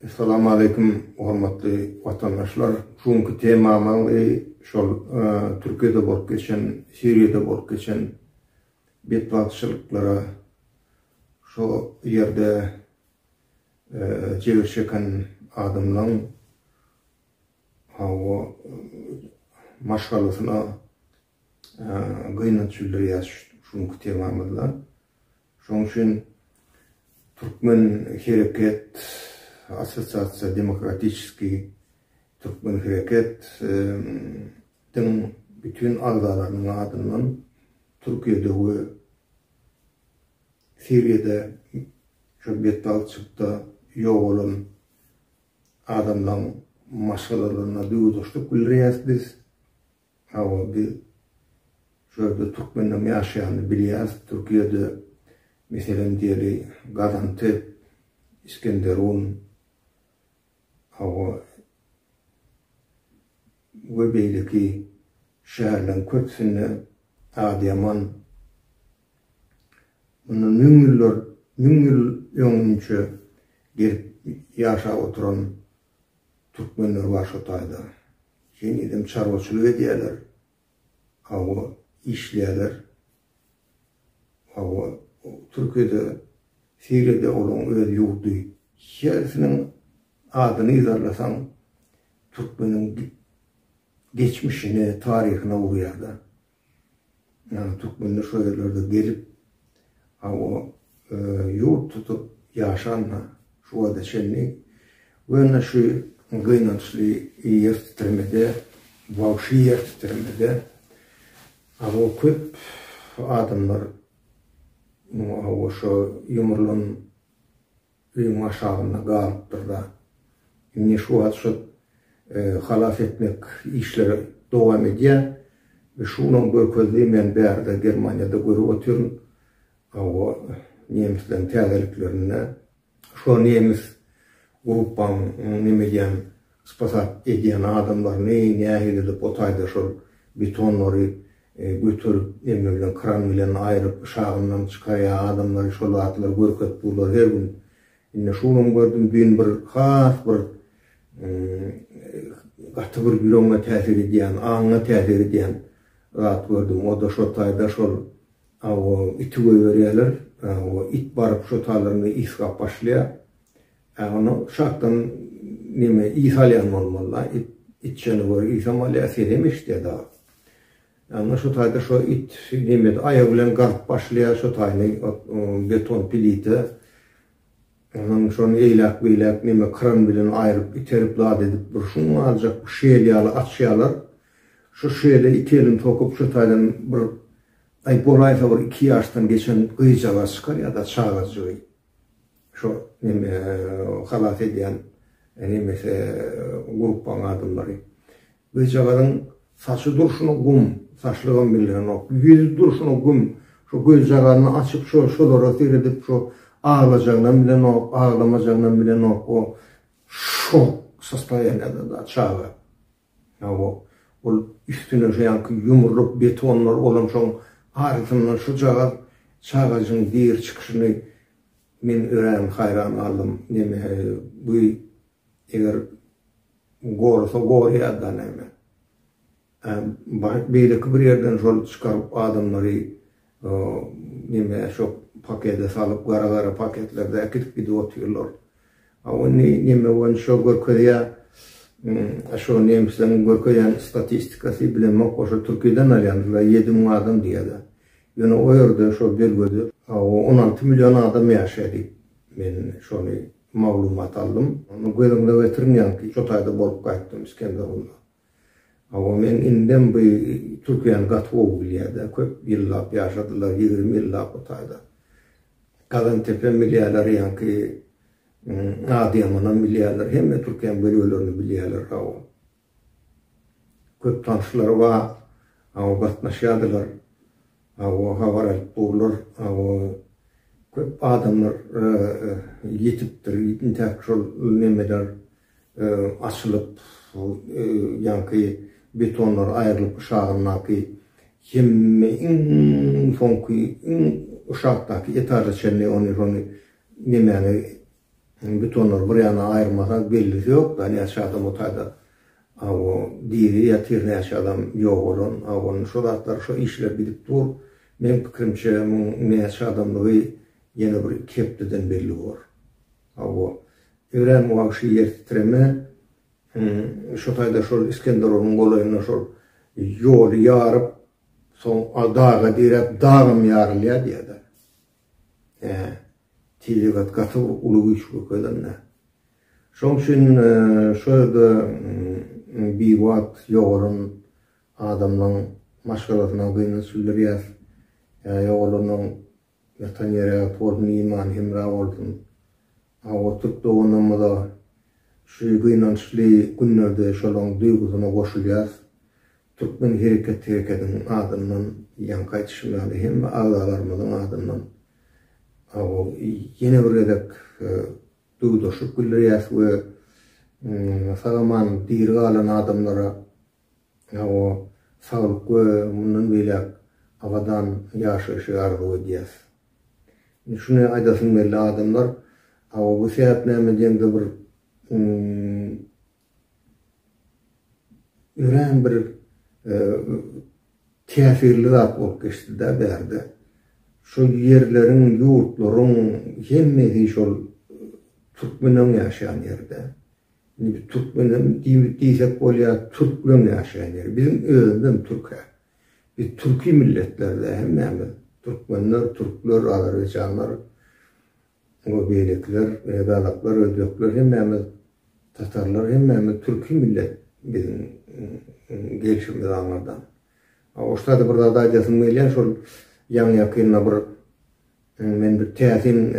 Salamaleýkum hormatly watandaşlar. Şu günki temamyz şol Türkiýede bolup geçen, Siriýada bolup geçen betbagtçylyklara şo ýerde jebir çeken adamlaň hawa maşgalasyna gynanç bildirýäs şu günki temamyzda. Şonuň üçin Türkmen hereket assosiasiýa demokratiçeski Türkmen hereket diň bütin agzalarynyň adyndan Türkiýede we Siriýada şu betbagtçylykda ýogalan adamlaryň maşgalalaryna duýgudaşlyk bildirýäs biz. Hawa biz şu ýerde türkmenleriň ýaşaýanyny bilýäris, Türkiýede meselem diýeli Gazantep, Iskenderun hawa we beýleki şäherleriň köpüsinde Adyýaman mundan müň ýyllar müň ýyl öňünçe gelip ýaşap oturan Türkmenler bar şo taýda. Henizem çarwaçylyk edýäler. Hawa, işleýäler. Hawa, Türkiýede, Siriýada olaň öz ýurdy. Hersiniň adyny yzarlasaň, türkmeniň geçmişine, taryhyna urýar-da. Ýagny türkmenler şo ýerlerde gelip, hawa, ýurt tutup ýaşanda şu wagta çenli we ine şu gynançly ýer titremede, wagşy ýer titremede, hawa, köp adamlar, hawa, şo ýumrulan Öýüň aşagynda galypdyr-da. Indi şu wagt şol halas etmek işleri dowam edýär. Şunuň görkezdigini men bärde Germaniýada görüp otyryn. Hawa, nemisleň täzeliklerinde şo nemis grupaň neme edýän Spasat edýän adamlaryny nähili edip o taýda şol betonlary göterip näme bilen kran bilen aýryp yşagyndan çykarýa adamlary şol zatlary görkezip durlar her gün indi şu günam gördüm düýn bir has bir gaty bir ýüregiňe täsir edýän aňyňa täsir edýän zat gördüm o da şol taýda şol iti goýberýäler o it baryp şo taýlarynda ysgap başlaýa Hä onda şatdan neme ys alýan bolmalyda it içjene görä ysam alýa senem eşidýä dagy. Ýagny şo taýda şo it nemede aýagy bilen gazyp başlaýa şo taýny beton plita onuň şony eýläk beýläk neme kran bilen aýryp iterip zat edip bir şuň aljak şel ýaly açýalar şo şele iki elini sokup şo taýdan bir aý bolaýsa bir iki ýaşdan geçen gyzjagaz çykar ýa-da çagajygy Şo neme halas edýän nemesi gruppaň adamlary. Gyzjagazyň saçy durşuna gum, saçlygam bildirenok. Ýüzi durşuna gum. Şo gözjaganyny açyp şo şolara seredip şo aglajagynam bilenok, aglamajagynam bilenok. O şok sostoýanýada da çaga. Hawa, ol üstüne şu ýanky ýumruluk betonlar bolan soň arasyndan şujagaz çagajygyň gir çykyşyny men örän haýran galdym. Neme, bu eger gorasa gorýa-da näme. Ä, beýleki bir ýerden şol çykaryp adamlary Neme şo pakede salyp gara gara paketlerde äkidip gidip otyrlar. A ony neme boýun şo görkezýä. A şo nemisleriň görkezýän statistikasy bilemok o şo türkiden alýandylar ýedi müň adam diýýäler. Ýöne o ýerde şo belgede on alty million adam ýaşaýa diýip men şony maglumat aldym. Göz öňüne getiriň ýaňky şo taýda bolup gaýtdym Iskenderunda. Hawa men indem bu türkiýäni gaty gowy bilýäda köp ýyllap ýaşadylar ýigrimi ýyllap bu taýda Gazantepe bilýäler ýaňky Adyýamanam bilýäler hemme türkiýäň bölelerini bilýäler hawa köp tanşlary ba hawa gatnaşýadylar hawa habar alyp durlar hawa köp adamlar ýetipdir intäk şol nemeler açylyp, ýaňky betonlar aýrylyp yşagyndaky hemme iň soňky iň yşakdaky etaža çenli ony şony nemäni betonlary bir ýana aýyrmasaň bellisi ýok da näçe adam otaýda awo diri ýatyr näçe adam ýogalan awo şo zatlar şo işler gidip dur meň pikirimçe muň näçe adamdygy ýene bir iki hepdeden belli bor. Hawa, örän wagşy ýer titreme şu taýda şol Iskenderulyň golaýynda şol ýoly ýaryp, soň daga diräp, dagam ýarylýar diýýärler. Hä, tebigat gaty bir uly güýç görkezende. Şoň üçin şu ýerde biwagt ýogalan adamlaryň maşgalasyna gynanç bildirýäs. Ýa ýogalanyň Ýatan ýere ýat bolsun imany hemra bolsun. Awa türk doganlarymyza şu gynançly günlerde şolaň duýgusyna goşulýas. Türkmen hereket herekediň adyndan ýaňky aýtyşym ýaly hemme agzalarymyzyň adyndan awa ýene bir gezek duýgudaşlyk bildirýäs we sag aman diri galan adamlara Hawa, saglyk we mundan beýläk abadan ýaşaýşy arzuw edýäs. Indi şuny aýdasym geldi, adamlar, hawa, bu sähet näme diýende bir örän bir täsirli zat bolup geçdi-de bärde. Şu ýerleriň, ýurtlaryň hemmesi şol türkmeniň ýaşaýan ýeri-de. Indi türkmenem diýsek bolýa türkmen ýaşaýan ýeri biziň özümizem türkä. Biz türki milletlerde hemmämiz türkmenler, türkler, azerbaýjanlar we beýlekiler, gazaklar, özbekler hemmämiz tatarlar hemmämiz türki millet biziň gelşimiz aňyrdan. Oşda-da bir zat aýdasym gelýär şol ýaňy ýakynda bir Men bir täsin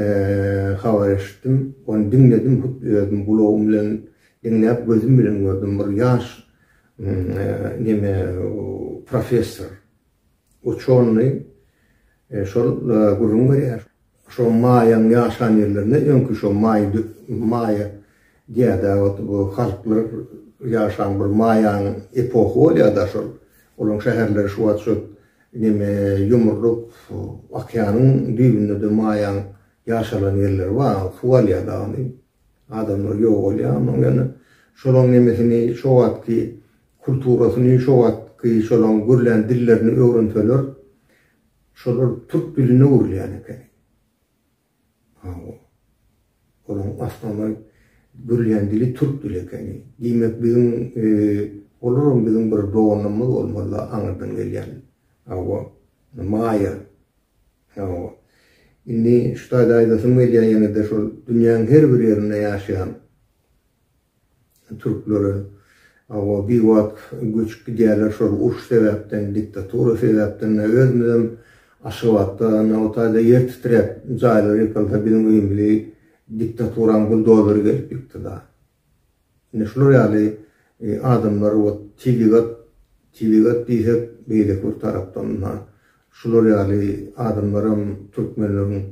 habar eşitdim. Ony diňledim, hut özüm gulagym bilen diňläp, gözüm bilen gördüm. Bir ýaş neme professor, uçony şol gürrüň berýär. Şo maýaň ýaşan ýerlerinde öňki şo maý maýa diýýärdi wagty bu halklar ýaşan bir maýaň epoha bolýarda şol. Olaň şäherleri şu wagt şo Ineme ýumrulyp, okeanyň düýbünde-de maýaň ýaşalan ýerleri bar, suw alýar dagyny, adamlar ýogalýar, onuň ýöne şolaň nemesini şo wagtky kulturasyny, şo wagtky şolaň gürlän dillerini öwrenseler, şolar türk diline öwrülýän ekeni. Hawa. Olaň asmana gürleýän dili türk dili ekeni. Diýmek, biziň, olaram biziň bir doganlarymyz bolmaly-la aňyrdan gelýän. Hawa. Maýa. Hawa. Indi şu taýda aýdasym gelýär ýene-de şol dünýäň her bir ýerinde ýaşaýan Türklere awa bir wagt göçüp gidýärler şol uruş sebäpden diktatura sebäpden ine özümizem Aşgabatda ine otaýda ýer titräp jaýlar ýykylsa biziň öýümizi diktaturaň buldozeri gelip ýykdyda ine şular ýaly adamlar ot tebigat tebigat diýsek beýleki bir tarapdan ynha Şular ýaly adamlaram türkmenleriň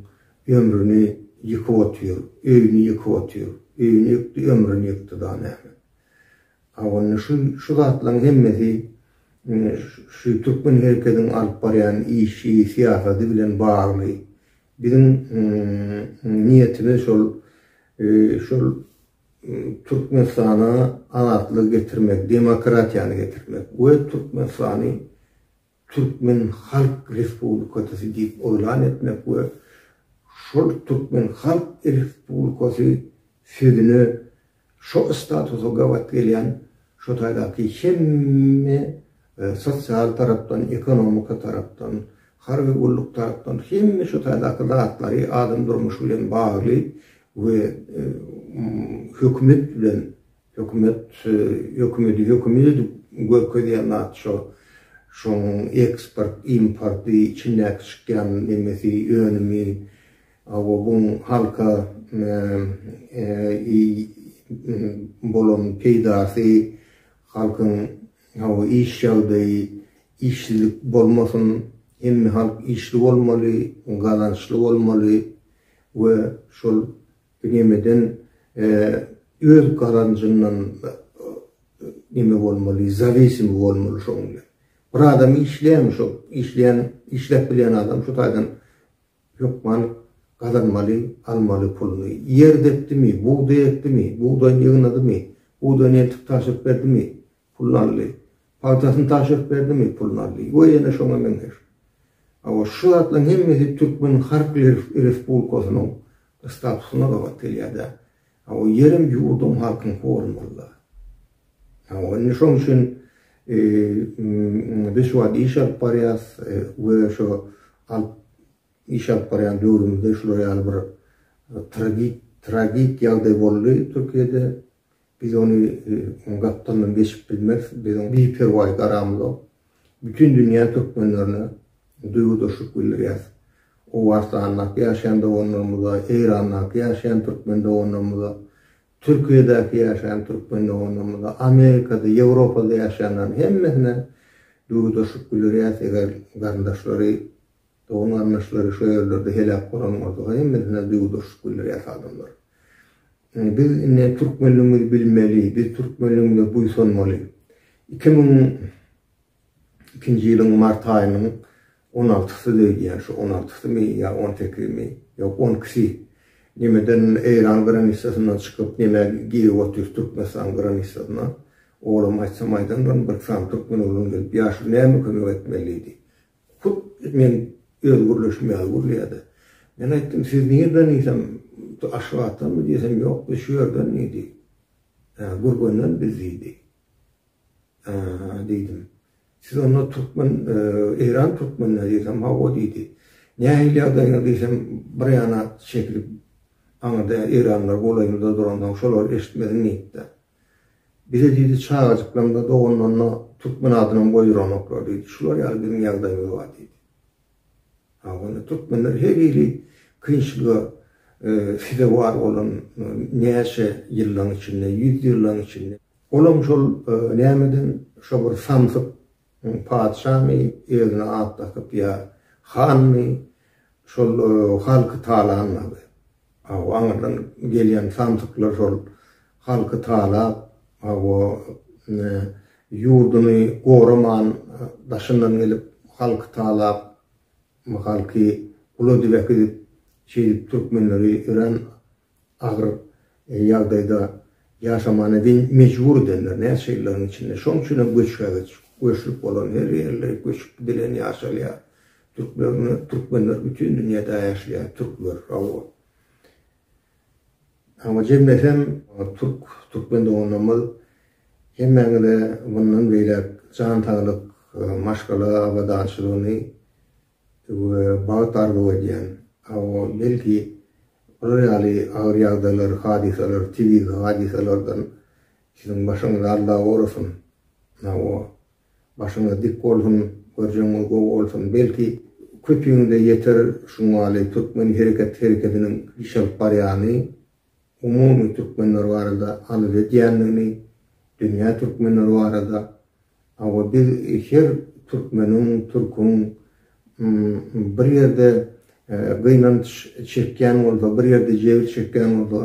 ömrüni ýykyp otyr, öýüni ýykyp otyr. Öýüni ýykdy, ömrüni ýykdy da näme. A onda şu şu zatlaryň hemmesi şu türkmen herekediň alyp barýan işi, syýasady bilen bagly. Biziň niýetimiz şol şol Türkmenistana azatlygy getirmek, demokratiýany getirmek we Türkmenistany Türkmen Halk Respublikasy diýip yglan etmek we şol Türkmen Halk Respublikasy sözüne şo statusa gabat gelýän şo taýdaky hemme sosial tarapdan, ekonomika tarapdan, harby gulluk tarapdan hemme şo taýdaky zatlary adam durmuşy bilen bagly we hökümet bilen Hökümet hökümedi hökümet edip görkezýän zat şo. Şoň eksport importy içindäki çykýan nemesi önümi hawa buň halka bolan peýdasy halkyň hawa iş ýagdaýy işsizlik bolmasyn hemme halk işli bolmaly gazançly bolmaly we şol Nemeden öz gazanjyndan neme bolmaly, zawisimi bolmaly şoň bilen. Bir adam işleýärmi şo işleýän, işläp bilýän adam şu taýdan hökman gazanmaly, almaly puluny. Ýer depdimi, bugdaý ekdimi, bugdaýyny ýygnadymy, bugdaýyny entik tabşyryp berdimi, Pul Nally. Pagtasyny tabşyryp berdimi? Pul Nally. We ýene şoňa meňzeş. Hawa, şu zatlaryň hemmesi Türkmen Halk Respublikasynyň statusyna gabat gelýär-dä. Hawa, ýerem ýurdum, halkyňky bolmaly-da. Hawa, indi şoň üçin biz şu wagt iş alyp barýarys we şu alyp, iş alyp barýan döwrümizde şular ýaly bir tragik, tragik ýagdaý boldy Türkiýede. Biz ony oň gapdalyndan geçip bilmeris, biz oň biperwaý garamyzok. Bütin dünýä türkmenlerine duýgudaşlyk bildirýäs. Owganystandaky ýaşaýan doganlarymyza, Eýrandaky ýaşaýan türkmen doganlarymyza, Türkiýedäki ýaşaýan türkmen doganlarymyza, Amerikada, Ýewropada ýaşaýanlaryň hemmesine duýgudaşlyk bildirýäs, eger garyndaşlary Dogan-garyndaşlary şo ýerlerde heläk bolan bolsa-ha hemmesine duýgudaşlyk bildirýär adamlar. Biz indi türkmenligimizi bilmeli, biz türkmenligimize buýsanmaly. Iki müň ikinji ýylyň mart aýynyň on altysydy diýýän, şu on altysymy ýa on sekizimi, ýok on ikisi nemeden Eýran granitsasyndan çykyp neme girip otyr Türkmenistan granitsasyna. Olam aýtsam aýdandyr, bir sany türkmen oglan gelip ýaşuly näme kömek etmelidi. Hut men öz gürleşim ýaly gürleýärdi. Men aýtdym, Siz nirden diýsem, Aşgabatdanmy diýsem, Ýok, biz şu ýerden diýdi. Ýa Gürgenden biz diýdi. Aa diýdim. Siz onda türkmen, Eýran türkmenleri diýsem, Hawa diýdi. Nähili ýagdaýyňyz diýsem, bir ýana çekilip, aňyrda Eýranlar golaýymyzda duransoň, şolar eşitmezin diýipdi. Bize diýdi, çagajyklaňda, doganlanda türkmen adynam goýduramaklar diýdi. Şular ýaly biziň ýagdaýymyz bar diýdi. Ha, onda türkmenler her hili kynçylyga sezewar bolan näçe ýyllaň içinde, ýüz ýyllaň içinde. Olam şol nämeden, şo bir samsyk Oň patyşamy özüne at dakyp ýa hanmy şol halky talanmagy. Hawa aňyrdan gelýän samsyklar şol halky talap hawa ýurduny goraman daşyndan gelip halky talap halky gula dibek edip şeýdip türkmenleri örän agyr ýagdaýda ýaşamana diýen mejbur edenler näçe ýyllaryň içinde. Şoň üçin hem göçbegiç, göçlük bolan her ýerler göçüp gidilen ýaşalýar. Türklerni, türkmenler bütin dünýäde ýaşlaýar, türkler, hawa. Hawa jemlesem türk, türkmen doganlarymyz hemmäňize mundan beýläk jan saglyk, maşgala abadançylygyny we bagt arzuw edýän. Hawa, belki, bular ýaly agyr ýagdaýlar, hadysalar, tebigy hadysalardan siziň başyňyz alda gorasyn. Hawa, başyňyz dik bolsun, görjegiňiz gowy bolsun. Belki, köpüňize ýeter şuňaly türkmen hereket hereketiniň iş alyp barýany. umumy türkmenler barada arz edýändigini, dünýä türkmenleri barada, hawa biz her türkmeniň, türküň bir ýerde gynanç çekýän bolsa, bir ýerde jebir çekýän bolsa,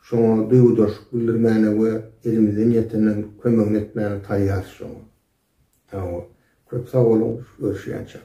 şoňa duýgudaşlyk bildirmäne we elimizden ýetenden kömegini etmäne taýýarys şoňa. Hawa, köp sag boluň, görüşýänçäk.